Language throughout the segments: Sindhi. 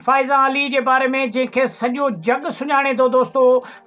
فائزه علي جي باري ۾ جنهن کي سڄو جڳ سڃاڻي ٿو دوستو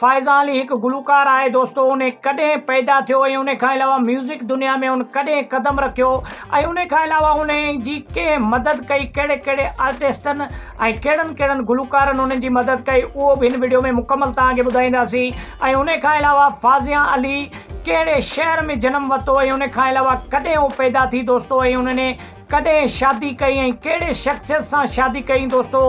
فائزه علي هڪ گلوڪار آهي دوستو ان ڪڏهن پيدا ٿيو ۽ ان کان علاوه ميوزڪ دنيا ۾ ان ڪڏهن قدم رکيو ۽ ان کان علاوه ان جي ڪنهن مدد ڪئي ڪهڙي ڪهڙي آرٽسٽن ۽ ڪهڙن ڪهڙن گلوڪارن ان جي مدد ڪئي اهو به هن وڊيو ۾ مڪمل توهان کي ٻڌائينداسين ۽ ان کان علاوه فازيا علي ڪهڙي شهر ۾ جنم ورتو ۽ ان کان علاوه ڪڏهن هو پيدا ٿي دوستو ۽ انهن ڪڏهن شادي ڪئي ۽ ڪهڙي شخصيت سان شادي ڪئين دوستو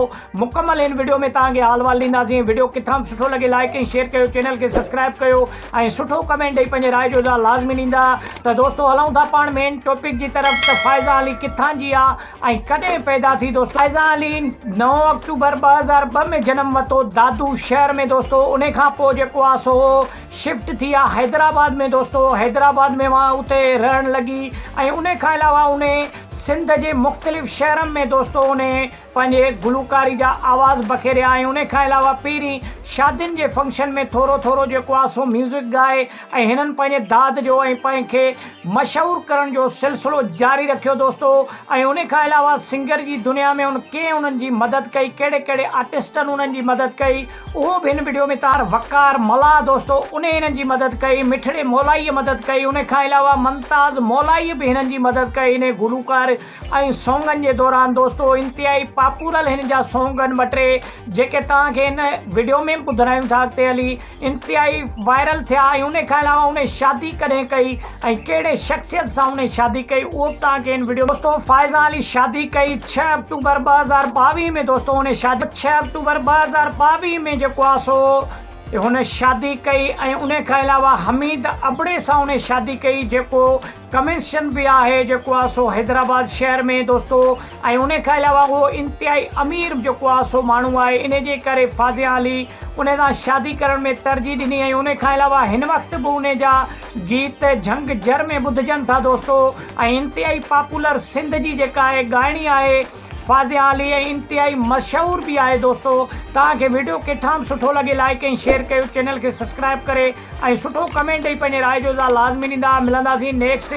مڪمل هن وڊيو ۾ توهان کي حال وال ڏينداسين وڊيو ڪٿان به سٺو لڳي لائيڪ ۽ شيئر ڪيو چينل کي سبسڪرائيب ڪيو ۽ سٺو ڪمينٽ ڏئي پنهنجي راء جو اظهار لازمي ڏيندا ته دوستو هلون ٿا پاڻ مين ٽوپڪ جي طرف ته فائزه علي ڪٿان جي آ ۽ ڪڏهن پيدا ٿي دوستو فائزه علي نو آڪٽوبر ٻه هزار ٻه ۾ جنم وتو دادو شهر ۾ دوستو انهي کان پوء جيڪو آ سو شفٽ ٿي آ حيدرآباد ۾ دوستو حيدرآباد ۾ وان اتي رهڻ لڳي ۽ انهي کان علاوه انهي سنڌ جي مختلف شهرن ۾ دوستو انهي پنهنجي گلوڪاري جا آواز بکيريا ۽ انهي کان علاوه پيرين شادين جي فنڪشن ۾ ٿورو ٿورو جيڪو آ سو ميوزڪ ڳائي ۽ هنن پنهنجي داد جو ۽ پنهن کي مشهور ڪرڻ جو سلسلو جاري رکيو دوستو ۽ انهي کان علاوه سنگر جي دنيا ۾ ان ڪئين انهن جي مدد ڪئي ڪهڙي ڪهڙي آرٽسٽن انهن جي مدد ڪئي اهو به هن وڊيو ۾ تار وقار ملاح دوستو انهي هنن جي مدد ڪئي مٺڙي مولائيء مدد ڪئي انهي کان علاوه ممتاز مولائيء به هنن جي مدد ڪئي انهي گلوڪار ۽ سونگن جي دوران دوستو انتهائي پاپورل هن جا سونگ آهن ٻه ٽي جيڪي توهان کي هن وڊيو ۾ به ٻڌرايون ٿا اڳتي هلي انتهائي وائرل ٿيا ۽ انهي کان علاوه انهي شادي ڪڏهن ڪئي ۽ ڪهڙي شخصيت سان هن شادي ڪئي اهو به توهان کي هن وڊيو دوستو فائزه علي شادي ڪئي ڇهه آڪٽوبر ٻه هزار ٻاويهه ۾ دوستو هن شادي ڇهه آڪٽوبر ٻه هزار ٻاويهه ۾ جيڪو آ سو هن شادي ڪئي ۽ ان کان علاوه حميد ابڙي سان هن شادي ڪئي جيڪو ڪميشن به آهي جيڪو آ سو حيدرآباد شهر ۾ دوستو ۽ ان کان علاوه اهو انتهائي امير جيڪو آ سو ماڻهو آهي ان جي ڪري فازيا علي ان سان شادي ڪرڻ ۾ ترجيح ڏني ۽ ان کان علاوه هن وقت به ان جا گيت جهنگ جر ۾ ٻڌجن ٿا دوستو ۽ انتهائي پاپولر سنڌ جي جيڪا اهي ڳائڻي آهي فاضحه علي ۽ انتهائي مشهور به آهي دوستو توهان کي ويڊيو ڪٿان به سٺو لڳي لائيڪ ۽ شيئر ڪيو چينل کي سسڪرائب ڪري ۽ سٺو ڪمينٽ ڏئي پنهنجي راء جو اظهار لازمي ڏيندا ملنداسين نيڪسٽ